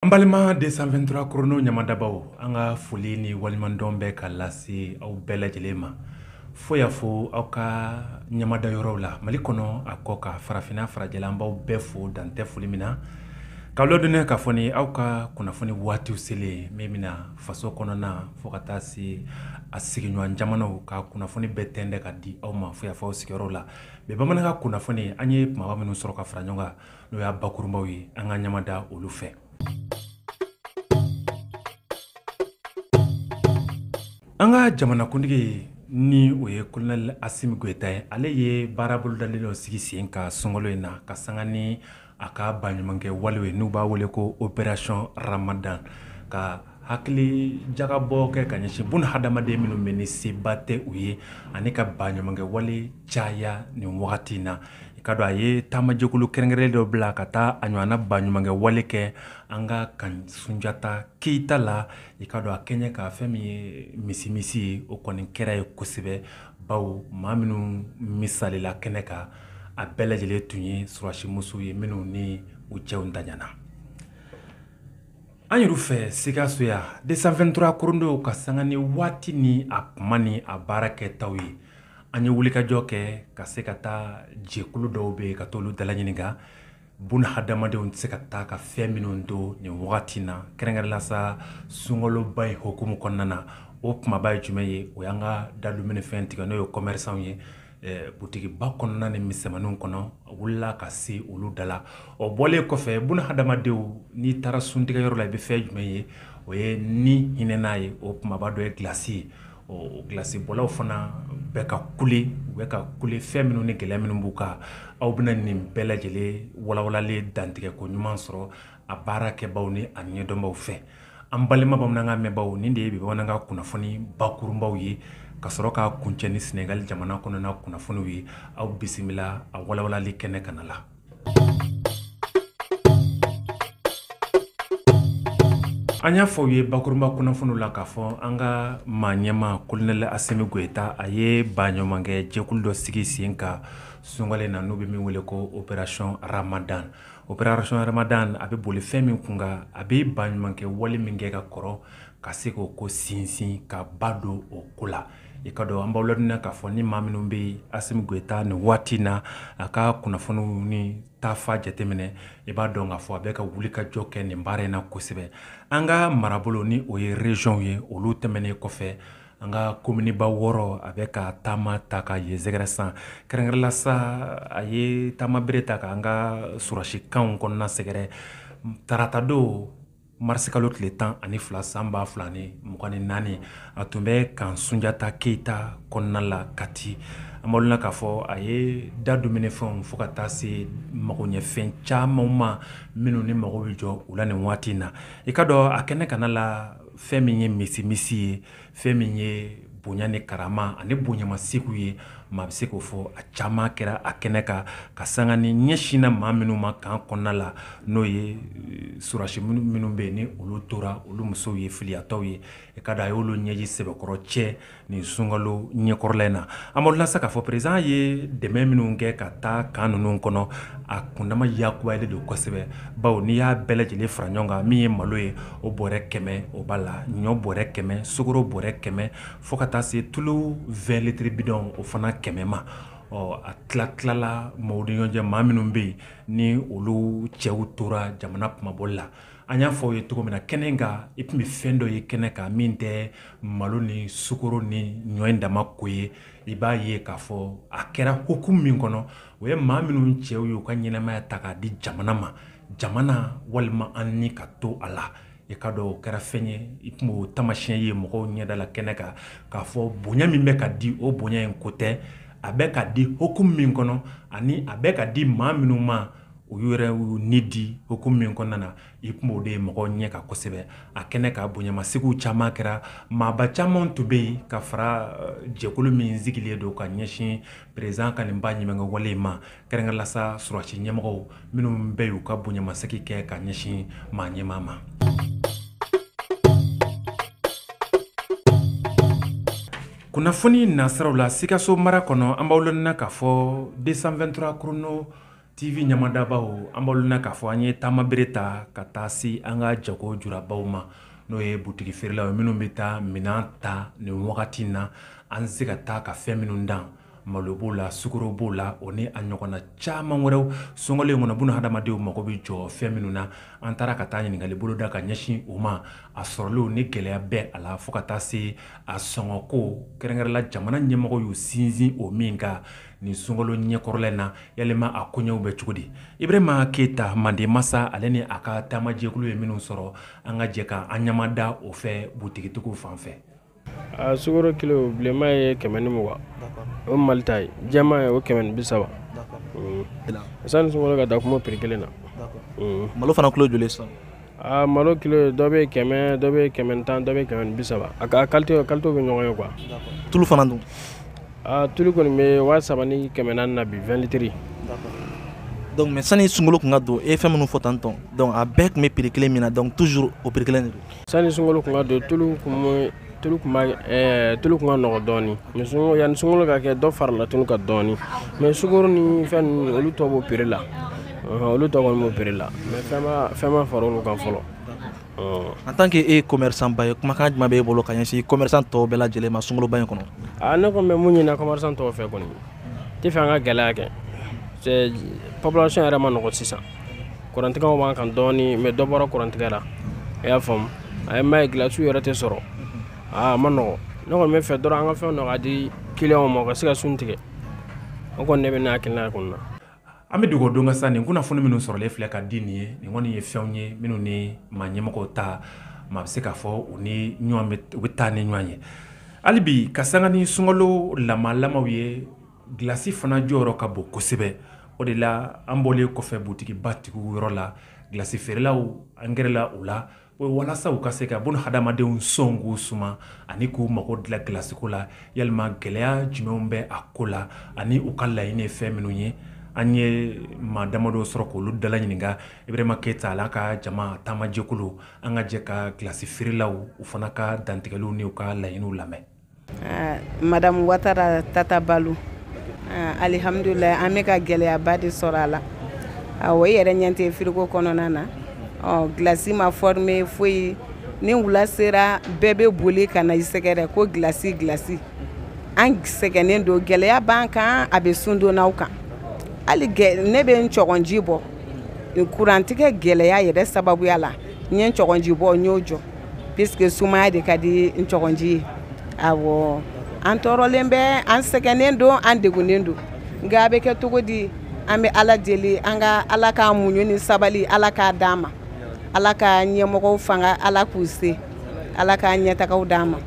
An balima 223 chrono ɲamadabaw an ka foli ni waleɲumandɔn bɛ ka lase aw bɛɛ lajɛlen ma fo y'a fɔ aw ka ɲamada yɔrɔw la mali kɔnɔ a kɔkan farafinna farajɛla an b'aw bɛɛ fo dan tɛ foli min na k'aw ladɔnniya k'a fɔ aw ka kunnafoni waati selen min bɛna faso kɔnɔna fo ka taa se a sigiɲɔgɔn jamanaw ka kunnafoni bɛɛ tɛntɛn ka di aw ma fo y'a fɔ sigiyɔrɔ la bi bamanankan kunnafoni an ye mɔgɔ minnu sɔrɔ ka fara ɲɔgɔn kan n'o y'a bakurunbaw ye an ka ɲamada olu fɛ an ka jamanakuntigi ni o ye kolonɛli asimi goyita ye ale ye baara bolodalen dɔ sigi sen kan sunkalo in na ka sanga ni a ka baɲumankɛ walew ye n'u b'a wele ko operasiyɔn ramadan ka hakili jagabɔ kɛ ka ɲɛsin bun hadamaden minnu bɛ ni seba tɛ u ye ani ka baɲumankɛwale caya nin wagati in na i k'a dɔn a ye taamajɛkulu kɛrɛnkɛrɛnnen dɔ bila ka taa a ɲɔgɔnna baɲumankɛwale kɛ an ka kan sunjata keyita la i k'a dɔn a kɛɲɛ ka fɛn min ye misimisi ye o kɔni kɛra yen kosɛbɛ bawo maa minnu misalila kɛnɛ kan a bɛɛ lajɛlen tun ye sɔrɔdasimuso ye minnu ni u cɛw daɲana An yɛrɛw fɛ sikaso yan 223 chrono ka sanga ni waati ni a kuma ni a baara kɛtaw ye an ye wulikajɔ kɛ ka se ka taa jɛkulu dɔw bɛ yen ka to olu dala ɲininka bun hadamadenw tɛ se ka taa ka fɛn minnu to nin wagati in na kɛrɛnkɛrɛn la sa sunkaloba in hukumu kɔnɔna na o kumaba ye jumɛn ye o y'an ka dadumuni fɛn tigi n'o ye kɔmɛrisanw ye Eh, butigiba kɔnɔna ni misɛnmaninw kɔnɔ an wulila ka se olu da la o bɔlen kɔfɛ bun hadamadenw n'i taara suntigɛyɔrɔ la i bɛ fɛn jumɛn ye o ye ni hinɛ n'a ye o kumaba dɔ ye gilasi ye o gilasibɔlaw fana bɛ ka kule u bɛ ka kule fɛn minnu ni gɛlɛya minnu b'u kan aw bɛna nin bɛɛ lajɛlen walawalalen dantigɛ ko ɲuman sɔrɔ a baara kɛbaw ni a ɲɛdɔnbaw fɛ an balima bamanankan mɛnbaw nin de ye bi bamanankan kunnafoni bakurunbaw ye ka sɔrɔ k'a kuncɛ ni sɛnɛgali jamana kɔnɔna kunnafoniw ye aw bisimila a walawalali kɛnɛ kana la an y'a fɔ aw ye bakurunba kunnafoniw la k'a fɔ an ka maa ɲɛmaa kolonɛli asimi goyita a ye baɲumankɛ jɛkulu dɔ sigi sen kan sunkalo in na n'u bɛ min wele ko operasiyɔn ramadan operation ramadan a bɛ boli fɛn min kun kan a bɛ baɲumankɛ wale min kɛ ka kɔrɔ ka se k'o ko sinsin ka ba don o ko la i k'a dɔn an b'aw ladɔnniya k'a fɔ ni maa minnu bɛ Asimi Goyita nin waati in na a ka kunnafoniw ni taafa jateminɛ i b'a dɔn k'a fɔ a bɛ ka wulikajɔ kɛ nin baara in na kosɛbɛ an ka marabolo ni o ye région ye olu tɛmɛnen kɔfɛ an ka kominiba wɔɔrɔ a bɛ ka taama ta ka yen sɛgɛrɛ sa kɛrɛnkɛrɛnla sa a ye taama bere ta k'an ka sɔrɔdasi kan kɔnɔna sɛgɛrɛ taratadon marisikalo tile tan ani fila san ba fila ni mugan ni naani a tun bɛ kan sunjata keyita kɔnɔna la kati an b'aw ladɔnniya k'a fɔ a ye da dumuni fɛnw fo ka taa se mago ɲɛfɛn caman ma minnu ni mago bɛ jɔ u la nin waati in na i k'a dɔn a kɛnɛ kanna la fɛn min ye misi misi ye fɛn min ye bonya ni karama ani bonyamasegin ye maa bɛ se k'o fɔ a caman kɛra a kɛnɛ kan ka sanga ni ɲɛsinna maa minnu ma kan kɔnɔna la n'o ye sɔrɔdasi minnu bɛ yen ni olu tora olu musow ye filiyatɔw ye i k'a dɔn a y'olu ɲɛji sɛbɛkɔrɔ cɛ nin sunkalo ɲɛkɔrɔla in na an b'aw ladɔnniya sa k'a fɔ president ye dɛmɛ minnu kɛ ka taa kan ninnu kɔnɔ a kundama yakubayalen don kosɛbɛ bawo n'i y'a bɛɛ lajɛlen fara ɲɔgɔn kan min ye malo ye o bɔrɛ kɛmɛ o b'a la ɲɔ bɔrɛ kɛmɛ sukoro bɔrɛ kɛmɛ fo ka taa se tulu 20 litiri bidɔn o fana kɛmɛ ma ɔ a tilatilala maaw ni ɲɔgɔn cɛ maa minnu bɛ yen ni olu cɛw tora jamana kunmabɔli la an y'a fɔ aw ye cogo min na kɛnɛ in kan i tun bɛ fɛn dɔ ye kɛnɛ kan min tɛ malo ni sukoro ni ɲɔ in dama ko ye i b'a ye k'a fɔ a kɛra hukumu min kɔnɔ o ye maa minnu cɛw ye u ka ɲɛnɛmaya ta k'a di jamana ma jamana walima an ni ka to a la i k'a dɔn o kɛra fɛn ye i tun b'o tamasiyɛn ye mɔgɔw ɲɛdala kɛnɛ kan k'a fɔ bonya min bɛ ka di o bonya in ko tɛ a bɛ ka di hukumu min kɔnɔ ani a bɛ ka di maa minnu ma u y'u yɛrɛ y'u ni di hukumu min kɔnɔna na i tun b'o de ye mɔgɔ ɲɛ kan kosɛbɛ a kɛnɛ kan bonyamasegin caman kɛra maaba caman tun bɛ yen ka fara jɛkulu min sigilen don ka ɲɛsin president ka nin baɲumankɛ wale ma kɛrɛnkɛrɛnla sa sɔrɔdasi ɲɛmɔgɔ minnu bɛ y'u ka bonyamasegin kɛ ka ɲɛsin maa ɲɛmaa ma kunnafoni nasiraw la sikaso mara kɔnɔ an b'aw ladɔnniya k'a fɔ 223 chrono TV ɲamadabaaw an b'aw ladɔnniya k'a fɔ an ye taama bere ta ka taa se an ka jago julabaw ma n'o ye butigi feerelaw ye minnu bɛ taa minɛn ta nin wagati in na an se ka taa ka fɛn minnu dan malo b'o la sukoro b'o la o ni a ɲɔgɔnna caman wɛrɛw sunkalo in kɔnɔ buna hadamadenw mago bɛ jɔ fɛn minnu na an taara ka taa ɲininkali bolo da ka ɲɛsin o ma a sɔrɔli ni gɛlɛya bɛ a la fo ka taa se a sɔngɔko kɛrɛnkɛrɛnla jamana ɲɛmɔgɔw y'u sinsin o min kan nin sunkalo ɲɛkɔrɔla in na yalima a koɲɛw bɛ cogo di ibrahima keyita manden masa ale ni a ka taamajɛkulu ye minnu sɔrɔ an ka jɛ ka an ɲamada o fɛ butigitigiw fan fɛ a sukoro kilo bilenma ye kɛmɛ ni mugan o mali ta ye jɛma ye o kɛmɛ ni bi saba sani sunkalo ka da kuma piri kelen na malo fana kilo joli sisan aa malo kilo dɔ bɛ kɛmɛ dɔ bɛ kɛmɛ ni tan dɔ bɛ kɛmɛ ni bi saba a ka qualité qualité bɛ ɲɔgɔn ye quoi tulu fana dun aa tulu kɔni bɛ waa saba ni kɛmɛ naani na bi vingt litres donc mais sani sunkalo kun ka don e ye fɛn minnu fɔ tantôt donc a bɛɛ kun bɛ prix kelen min na donc toujours o prix kelen de don sani sunkalo kun ka don tulu kun bɛ tulu tun ma eh, tulu kun ka nɔgɔ dɔɔni mais sunkalo yanni sunkalo ka kɛ dɔ farala tulu kan dɔɔni mais sukoro ni fɛn ninnu olu tɔ b'o prix la olu tɔ kɔni b'o prix la mais fɛn ma fɛn ma fara olu kan fɔlɔ en tant que e ye commerçant ba ye kumakan jumɛn b'e bolo ka ɲɛsin commerçant tɔw bɛɛ lajɛlen ma sunkaloba in kɔnɔ a ne kɔni bɛ mun ɲinina commerçant tɔw fɛ kɔni tɛ fɛ an ka gɛlɛya kɛ population yɛrɛ ma nɔgɔ sisan kurantigɛw b'an kan dɔɔni mais dɔ bɔra kurantigɛ la i y'a faamu a ye m'a ye gilasiw yɛrɛ tɛ sɔrɔ aa a ma nɔgɔ ne kɔni bɛ fɛ dɔrɔn an ka fɛn dɔ ka di kiliyanw ma u ka se ka sun tigɛ o kɔni ne bɛ ne hakilina ye kɔni na an bɛ dogo don ka sa nin kunnafoni minnu sɔrɔlen filɛ ka di nin ye nin kɔni ye fɛnw ye minnu ni maa ɲɛmɔgɔw ta maa bɛ se k'a fɔ u ni ɲɔgɔn u bɛ taa ni ɲɔgɔn ye hali bi ka sanga ni sunkalo lamalamaw ye Glace fana jɔyɔrɔ ka bon kosɛbɛ. O de la an bɔlen kɔfɛ butigi ba tigiw yɔrɔ la, glace feerelaw an gɛrɛla u la walasa u ka se ka bon hadamadenw sɔnkun suma ani k'u mago dilan glace ko la. Yalima gɛlɛya jumɛnw bɛ a ko la ani u ka laɲini ye fɛn minnu ye? An ye maa damadɔ sɔrɔ k'olu dala ɲininka. Ibrahima Keyita a n'a ka jama taama jɛkulu. An ka jɛ ka glace feerelaw u fana ka dantigɛliw ni u ka laɲiniw lamɛn. ah, madamu watara tata balu ah, alihamudulila an bɛ ka gɛlɛyaba de sɔrɔ a la awɔ ah, i yɛrɛ ɲɛ tɛ firigo kɔnɔna na ɔ gilasi ma fɔrime foyi ni wula sera bɛɛ bɛ boli ka na i sɛgɛrɛ ko gilasi gilasi an sɛgɛnnen don gɛlɛya b'an kan a bɛ sundonnaw kan hali ne bɛ n cɔgɔnji bɔ kurantigɛ gɛlɛya yɛrɛ sababuya la n ye cɔgɔnji bɔ n y'o jɔ puisque sumaya de ka di n cɔgɔnji ye awɔ an tɔɔrɔlen bɛ an sɛgɛnnen don an degunnen don nka a bɛ kɛ cogo di an bɛ ala deli an ka ala ka muɲu ni sabali ala k'a d'an ma ala ka ɲɛmɔgɔw fanga ala k'u se ala ka ɲɛtagaw d'an ma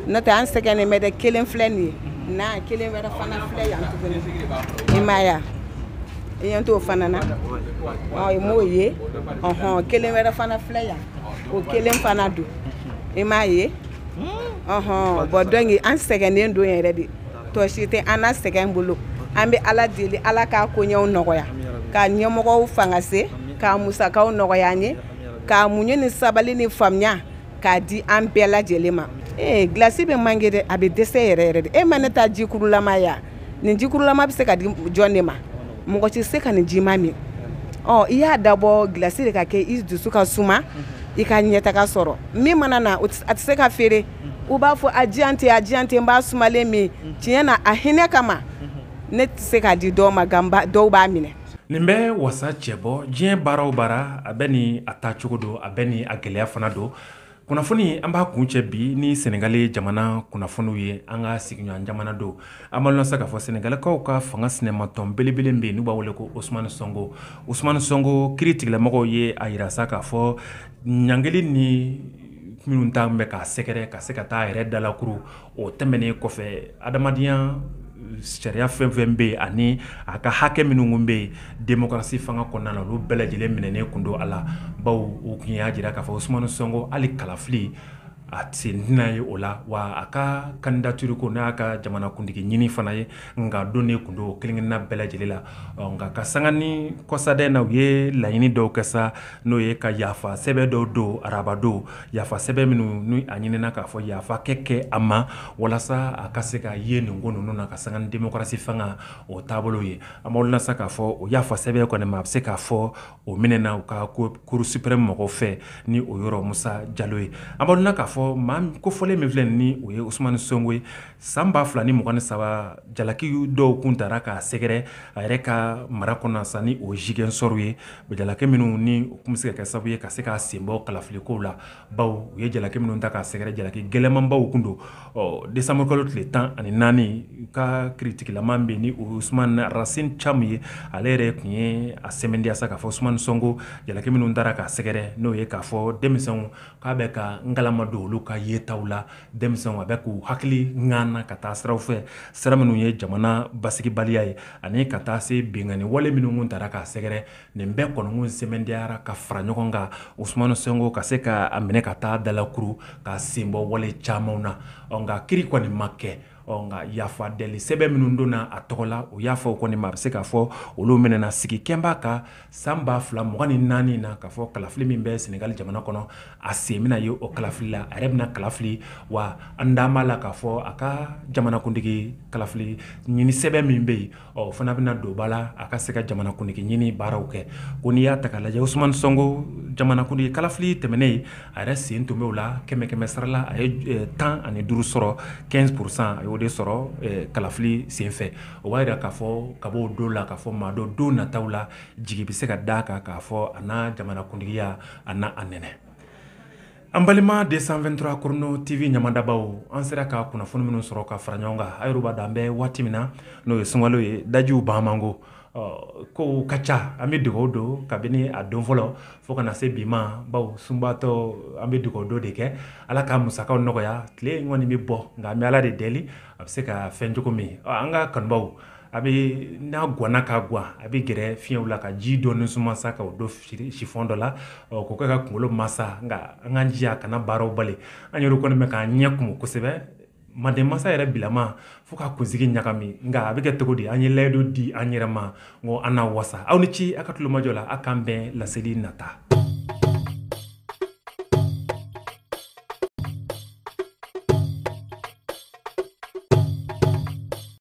n'o tɛ an sɛgɛnnen bɛ dɛ kelen filɛ nin ye na kelen wɛrɛ fana filɛ yan tuguni i m'a ye wa i ɲɛ t'o fana na ɔ i m'o ye ɔhɔn kelen wɛrɛ fana filɛ yan o kelen fana don i m'a ye bon donc an sɛgɛnnen don yɛrɛ de tɔ si tɛ an na sɛgɛn bolo an bɛ ala deli ala k'a koɲɛw nɔgɔya ka ɲɛmɔgɔw fanga se k'a musakaw nɔgɔya an ye k'a muɲu ni sabali ni faamuya k'a di an bɛɛ lajɛlen ma ee gilasi bɛ manqué dɛ a bɛ dɛsɛ yɛrɛ yɛrɛ de e ma ne ta jikurulama ya nin jikurulama bɛ se ka di jɔn de ma mɔgɔ tɛ se ka nin jima min ɔ i y'a dabɔ gilasi de ka kɛ i dusu ka suma i ka ɲɛtaga sɔrɔ min mana na a tɛ se ka feere u b'a fɔ a diyan tɛ a diyan tɛ n b'a sumalen min tiɲɛ na a hinɛ kama ne tɛ se k'a di dɔw ma ganba dɔw b'a minɛ nin bɛ wasa cɛ bɔ diɲɛ baara o baara a bɛ ni a taacogo don a bɛ ni a gɛlɛya fana don kunnafoni an b'a kuncɛ bi ni sɛnɛgali jamana kunnafoniw ye an ka sigiɲɔgɔn jamana don an b'aw ladɔnniya sa k'a fɔ sɛnɛgalikaw ka fanga sinamatɔn belebele bɛ yen n'u b'a wele ko osmani sɔnko osmani sɔnko kiritigɛlamɔgɔw ye a jira sa k'a fɔ ɲangili ni minnu ta bɛ k'a sɛgɛrɛ ka se ka taa yɛrɛ dalakuru o tɛmɛnen kɔfɛ adamadenya sariya fɛn fɛn bɛ yen ani a ka hakɛ minnu bɛ yen demokarasi fanga kɔnɔna na olu bɛɛ lajɛlen minɛnen tun don a la bawo u tun y'a jira k'a fɔ osumani sɔnko hali kalafili a sen tɛna ye o la wa a ka kandidatiri ko n'a ka jamanakuntigi ɲinin fana ye nka donnen tun don o kelen-kelenna bɛɛ lajɛlen la nka ka sanga ni kɔsada in na u ye laɲini dɔw kɛ sa n'o ye ka yafa sɛbɛn dɔw don araba don yafa sɛbɛn minnu ni a ɲinina k'a fɔ yafa ka kɛ a ma walasa a ka se ka ye nin ko ninnu na ka sanga ni demokarasi fanga o taabolo ye an b'aw ladɔnniya sa k'a fɔ o yafa sɛbɛn kɔni maa bɛ se k'a fɔ o minɛna u ka cour suprême mɔgɔw fɛ ni o yɔrɔ musa jalo ye an b'aw ladɔnniya k'a fɔ maa kofɔlen min filɛ ni o ye osumani sɔnko ye san ba fila ni mugan ni saba jalaki dɔw kun tara k'a sɛgɛrɛ a yɛrɛ ka mara kɔnɔ sa ni o zigɛnsɔrɔ ye jalaki minnu ni u tun bɛ se ka kɛ sababu ye ka se k'a sen bɔ kalafilikow la bawo u ye jalaki minnu ta k'a sɛgɛrɛ jalaki gɛlɛnmanbaw tun don ɔ desanburukalo tile tan ani naani u ka kiritigɛlamaa bɛ ni osumani rasini camu ye ale yɛrɛ tun ye a sɛmɛntiya sa k'a fɔ osumani sɔnko jalaki minnu tara k'a sɛgɛrɛ n'o ye k'a fɔ denmisɛnw k'a bɛ ka n kalama don olu ka yetaw la denmisɛnw a bɛ k'u hakili ŋan na ka taa siraw fɛ sira minnu ye jamana basigibaliya ye ani ka taa se binkanni wale minnu kun tara k'a sɛgɛrɛ nin bɛɛ kɔni kun sɛmɛntiyara ka fara ɲɔgɔn kan usumani sɔnko ka se k'a minɛ ka taa dalakuru k'a sen bɔ wale camanw na ɔ nka kiri kɔni ma kɛ ɔ nka yafa deli sɛbɛn minnu donna a tɔgɔ la o yafaw kɔni maa bɛ se k'a fɔ olu minɛna sigi kɛlen b'a kan san ba fila mugan ni naani na k'a fɔ kalafili min bɛ sɛnɛgali jamana kɔnɔ a sen bɛna ye o kalafili la a yɛrɛ bɛna kalafili wa an da b'a la k'a fɔ a ka jamanakuntigi kalafili ɲini sɛbɛn min bɛ yen o fana bɛna don ba la a ka se ka jamanakuntigi ɲini baaraw kɛ ko n'i y'a ta k'a lajɛ osumani sɔnko jamanakuntigi kalafili tɛmɛnen ye a yɛrɛ sen tun b'o la kɛmɛ kɛmɛ sarala a ye tan ani duuru sɔrɔ quinze pour cent a y'o de sɔrɔ kalafili senfɛ o b'a jira k'a fɔ ka bɔ o don la k'a fɔ maa dɔ don nataw la jigi bɛ se ka d'a kan k'a fɔ a na jamanakuntigiya a n'a nɛnɛ An balima deux cent vingt-trois Chrono TV ɲamadabaw an sera ka kunnafoni minnu sɔrɔ ka fara ɲɔgɔn kan a yɛrɛ b'a dɔn an bɛ waati min na n'o ye sunkalo ye dajiw ban man go ko ka ca an bɛ dugawu don kabini a don fɔlɔ fo ka na se bi ma bawo sunbatɔ an bɛ dugawu don de kɛ ala ka musakaw nɔgɔya tile kɔni bɛ bɔ nka an bɛ ala de deli a bɛ se ka fɛn cogo min an ka kanubaw a bɛ n'a gwanna ka gwan a bɛ gɛrɛ fiɲɛw la ka ji dɔɔni suma sa k'o don sifɔn dɔ la k'o kɛ ka kunkolo masa nka an k'an jija kana baaraw bali an yɛrɛ kɔni bɛ k'an ɲɛ kumu kosɛbɛ manden mansa yɛrɛ bilama fo ka kunsigi ɲagami nka a bɛ kɛ cogo di an ye layidu di an yɛrɛ ma ko an n'a wasa aw ni ce a ka tulomajɔ la aw k'an bɛn laseli nata